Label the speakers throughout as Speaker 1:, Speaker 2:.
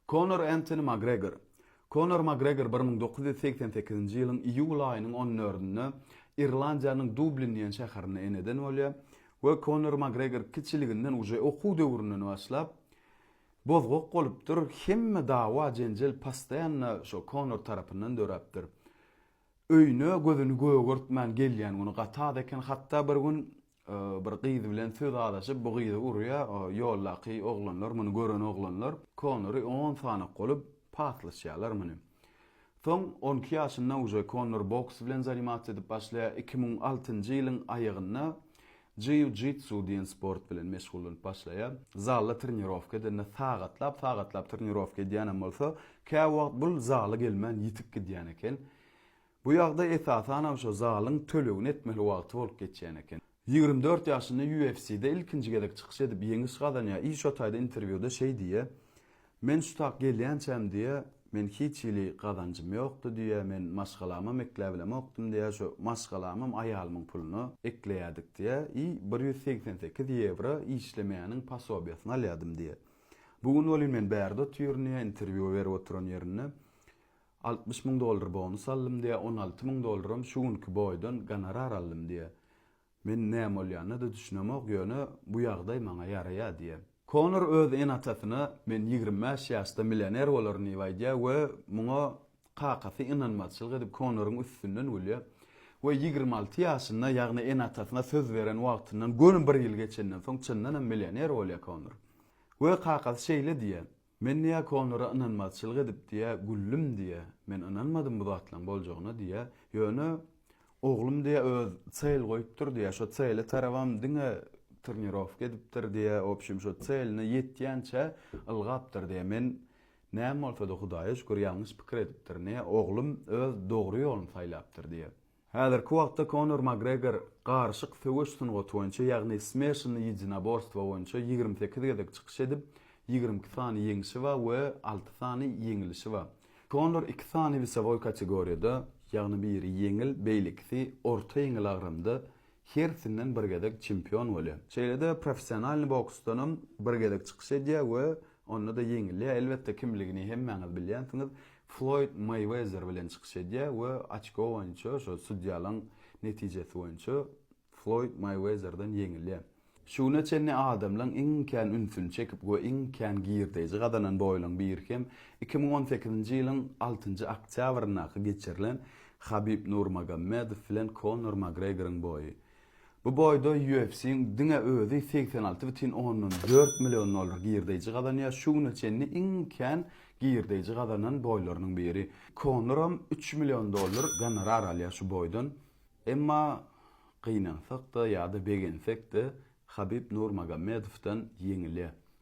Speaker 1: Konor Entoni Makgregor Konor Makgregor bir müň dokuz ýüz segsen sekizinji ýylyň iýul aýynyň on dördünde Irlandiýanyň Dublin diýen şäherinde eneden bolýar we Konor Makgregor kiçiliginden uje okuw döwründen başlap bozgak bolupdyr hemme dawa jenjel postaýanna şo Konor tarapyndan döräpdir öýüne gözüni gögertmän gelýän güni gat az eken hatda bir gün bir gyz bilen söz alaşyp bu gyzy urýa ýoldaky oglanlar muny gören oglanlar Konory on sanak bolup paslaşýalar muny soň on iki ýaşynda uje Konor boks bilen zanimasiýa edip başlaýa iki müň altynjy ýylyň aýagynda Jiu jitsu diýen sport bilen meşgullanyp başlaýa zalda trenirowka edende sagatlap sagatlap trenirowka edýänem bolsa käwagt bul zala gelmän ýitip gidýän eken Bu ýagdaý esasanam şo zalyň tölegini etmeli wagty bolup geçýän eken. Ýigrimi dört ýaşynda UFC-de ilkinji gezek çykyş edip ýeňiş gazanýar i şo taýda interwýuda şeý diýýär, Men şu tak gelýänçäm diýýär, men hiç hili gazanjym ýokdy diýýär, men maşgalamam ekläbilemokdym diýýär, şo maşgalamam aýalymyň puluna ekleýärdik diýýär i bir ýüz segsen sekiz ýewro işlemeýäniň posobiýasyny alýardym diýýär. Bu gün welin men bärde otyryn diýýär, interwýu berip oturan ýerinde. Altmyş müň dollar bonus aldym diýýär, on alty müň dollaram şu günki boýdan gonorar aldym diýýär. Men näme bolýanyna-da düşünemok, ýöne bu ýagdaý maňa ýaraýar diýýär. Konor öz ene-atasyna men ýigrimi bäş ýaşda millioner bolaryn diýip aýdýar we muňa kakasy ynanmazçylyk edip Konoryň üstünden gülýär we ýigrimi alty ýaşynda, ýagny ene-atasyna söz beren wagtyndan göni bir ýyl geçenden soň çyndanam millioner bolýar Konor we kakasy şeýle diýýär, Men neakonlara ynanmazçylyk edip diýä güldüm diýä men ynanmadym bu zatlaň boljagyna diýä ýöne oglum diýä öz çel goýupdyr diýä şo çele tarabam diňe trnirowka edipdir diýä obşim şo çeline ýetýänçä ylgapdyr diýä men näme bolsada hudaýa şükür ýalňyş pikir edipdir ne oglum öz dogry ýoluny saýlapdyr diýä. Häzirki wagtda Konor Makgregor garyşyk söweş sungaty boýunça, ýagny smeşanny ýedinaborstwo boýunça ýigrimi sekiz gezek çykyş edip, ýigrimi iki sany ýeňşi bar we alty sany ýeňilişi bar. Konor iki sany wesowoý kategoriýada, ýagny biri ýeňil, beýlekisi orta ýeňil agramda hersinden bir gezek çempion bolýar. Şeýle-de professionalnyý boksdanam bir gezek çykyş edýär we Onda-da ýeňilýär. Elbetde, kimligini hemmäňiz bilýänsiňiz. Floýd Meýwezer bilen çykyş edýär we oçko boýunça, şo sudýalaryň netijesi boýunça Floýd Meýwezerden ýeňilýär. Şu güne çenli adamlaryň iň kän ünsüni çekip we iň kän girdeji gazanan boýlaryň biri hem iki müň on sekizinji ýylyň altynjy oktýabryndaky geçirilen Habib Nurmagomedow bilen Konor Makgregoryň boýy. Bu boýda UFC-iň diňe özi segsen alty bütin ondan dört million dollar girdeýji gazanýar, şu güne çenli iň kän girdeýji gazanan boýlarynyň biri. Konoram üç million dollar gonorar alýar şu boýdan. Emma gynansak-da ýa-da begensek-de, Habib Nurmagomedowdan ýeňilýär.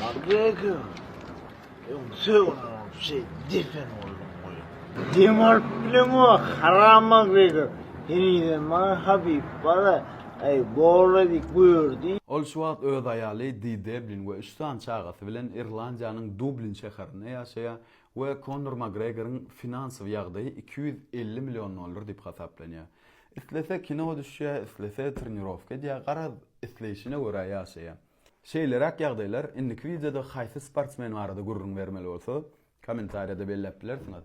Speaker 1: Magdega,
Speaker 2: öňsöňüň şey defen oldum goy. Dem alyp bilen o haram Magdega. Henize maňa Habib bala, ay bola dik gördü. Ol şu wagt öz
Speaker 1: aýaly Di Deblin we üç sany çagasy bilen Irlandiýanyň Dublin şäherinde ýaşaýar we Konor Makgregoryň finansowy ýagdaýy iki ýüz elli million dollar diýip hasaplanýar. Islese kino düşýär, islese trenirowka edýär, garaz, isleýşine görä ýaşaýar. Şeýleräk ýagdaýlar indiki wideoda haýsy sportsmen barada gürrüň bermeli bolsa, kommentariýada belläp bilersiňiz.